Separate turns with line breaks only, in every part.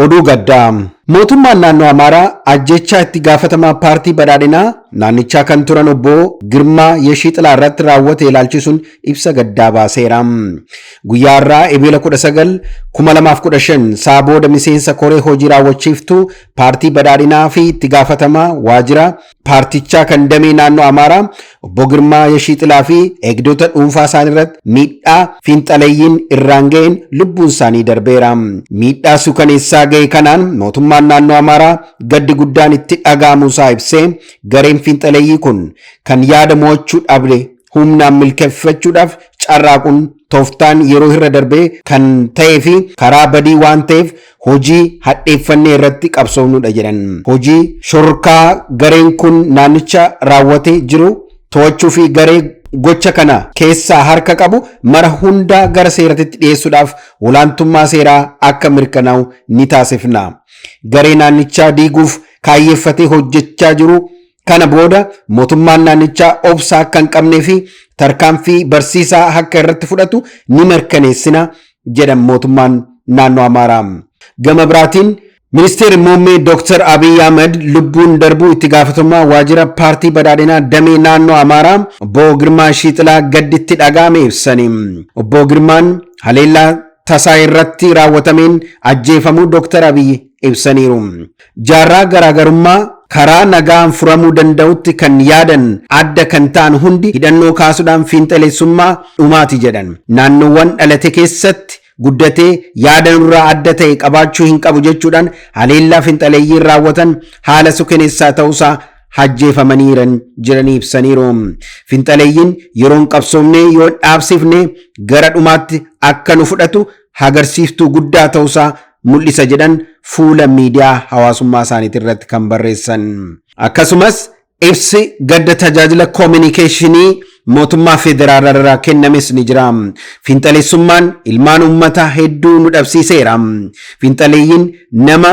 Oduu gaddaa. Mootummaan naannoo Amaaraa ajjechaa itti gaafatamaa paartii badhaadhinaa naannichaa kan turan obbo Girmaa Yeshiixilaa irratti raawwate ilaalchisuun ibsa gaddaa baaseera. Guyyaa har'aa Ebeela 19 2015 sa'a booda miseensa koree hojii raawwachiiftuu paartii badhaadhinaa fi itti gaafatamaa waajjira paartichaa kan damee naannoo Amaaraa obbo Girmaa Yashiixilaa fi eegdota dhuunfaa isaanii irratti miidhaa fiinxaleeyyiin irraan ga'een lubbuun isaanii darbeera. Miidhaa suukaneessaa ga'e kanaan mootummaan naannoo Amaaraa gaddi guddaan itti dhaga'amuu isaa ibsee gareen fiinxaleeyyii kun kan yaada mo'achuu dhabe humnaan milkeeffachuudhaaf carraaquun tooftaan yeroo irra darbee kan ta'ee fi karaa badii waan ta'eef hojii hadheeffannee irratti qabsoofnudha jedhan. Hojii shororkaa gareen kun naannicha raawwate jiru to'achuu fi garee gocha kana keessaa harka qabu mara hundaa gara seeratitti dhiyeessuudhaaf olaantummaa seeraa akka mirkanaa'u ni taasifna. Garee naannichaa diiguuf kaayyeeffatee hojjechaa jiru Kana booda mootummaan naannichaa obsa akka hin qabnee fi tarkaanfii barsiisaa akka irratti fudhatu ni mirkaneessina jedhan mootummaan naannoo Amaaraa. Gama biraatiin Ministeerri Muummee Dooktar Abiy Ahmed lubbuun darbuu itti gaafatamaa waajjira paartii badhaadhinaa damee naannoo Amaaraa obbo Girmaa Shiixilaa gadditti dhaga'ame ibsani. Obbo Girmaan haleellaa tasaa irratti raawwatameen ajjeefamuu Dooktar Abiy ibsaniiru. Jaarraa garaagarummaa karaa nagaan furamuu danda'utti kan yaadan adda kan ta'an hundi hidhannoo kaasudhaan fiinxaleessummaa dhumaati jedhan. Naannoowwan dhalate keessatti guddatee yaada nurraa adda ta'e qabaachuu hin qabu jechuudhaan haleellaa finxaleeyyiin raawwatan haala sukeneessaa ta'uusaa hajjeefamanii jiran jiranii ibsaniiru. Finxaleeyyiin yeroon qabsoomnee yoo dhaabsifne gara dhumaatti akka nu fudhatu hagarsiiftuu guddaa ta'usaa mul'isa jedhan fuula miidiyaa hawaasummaa isaaniitii irratti kan barreessan. Akkasumas ibsi gadda tajaajila koominikeeshinii mootummaa federaalaa irraa kennames ni jira. Fiinxaleessummaan ilmaan uummataa hedduu nu dhabsiiseera. Fiinxaleeyyiin nama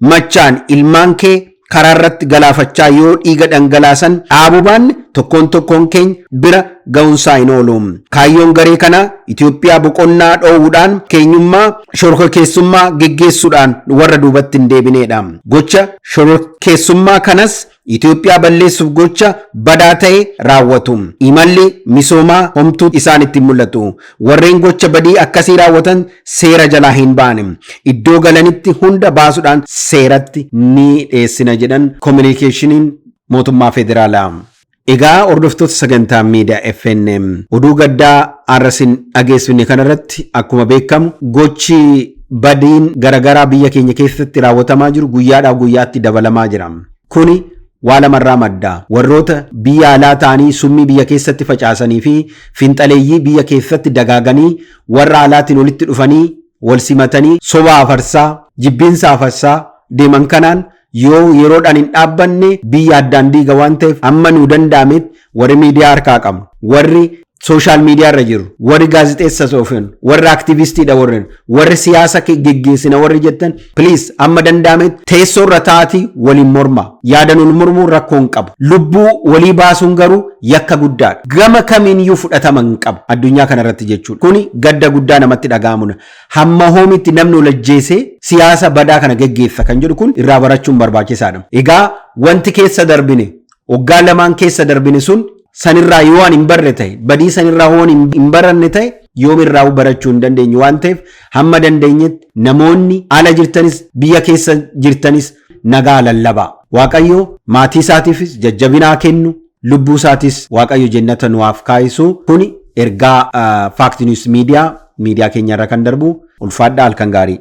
machaan ilmaan kee karaa irratti galaafachaa yoo dhiiga dhangalaasan dhaabuu baanne tokkoon tokkoon keenya bira ga'unsaa hin oolu. Kaayyoon garee kanaa Itoophiyaa boqonnaa dhoowwuudhaan keenyummaa shororkeessummaa geggeessuudhaan warra duubatti hin deebineedha. Gocha shororkeessummaa kanas Itoophiyaa balleessuuf gocha badaa ta'e raawwatu. Imalli misoomaa homtuu isaanitti hin mul'atu. Warreen gocha badii akkasii raawwatan seera jalaa hin ba'an. Iddoo galanitti hunda baasudhaan seeratti ni dheessina jedhan Kominikeeshiniin Mootummaa Federaalaa. Egaa hordoftoota sagantaa miidiyaa FNM oduu gaddaa har'a sin dhageessifne kanarratti akkuma beekamu gochi Badiin garagaraa biyya keenya keessatti raawwatamaa jiru guyyaadhaa guyyaatti dabalamaa jira. Kuni waa lamarraa madda. Warroota biyya alaa ta'anii summii biyya keessatti facaasaniifi finxaleeyyii biyya keessatti dagaaganii warra alaatiin walitti dhufanii walsimatanii soba afarsaa, jibbiinsa afarsaa deeman kanaan Yoo yeroodhaan hin dhaabbanne biyya addaan diiga waan ta'eef amma nuu danda'ametti warri miidiyaa harkaa qabnu, warri sooshaal miidiyaa irra jirru, warri gaazexeessa soofinu, warri aktivistiidha warri, warri siyaasa geggeessina warri jettan please amma danda'ametti teessoo irra taa'aatii waliin mormaa. Yaadan wal mormuun rakkoo hin qabu. Lubbuu walii baasuun garuu yakka guddaadha. Gama kamiiniyyuu fudhatama hin qabu addunyaa kana irratti jechuudha. Kuni gadda guddaa namatti dhaga'amudha. Hamma hoomitti namni ol ajjeesee siyaasa badaa kana geggeessa kan jedhu kun irraa barachuun barbaachisaadha. Egaa wanti keessa darbine, waggaa lamaan keessa darbine sun sanirraa yoo ani hin barre ta'e, badii sanirraa yoo ani hin baranne ta'e yoomirraa'uu barachuu hin dandeenyu waan ta'eef hamma dandeenyetti namoonni ala jirtanis biyya keessa jirtanis nagaa lallabaa. Waaqayyo maatii isaatiifis jajjabina haa kennu, Lubbuu isaatis waaqayyo jennata nu haaf kaayisu kuni ergaa fact news media miidiyaa keenya irra kan darbu ulfaadhaa halkan gaarii.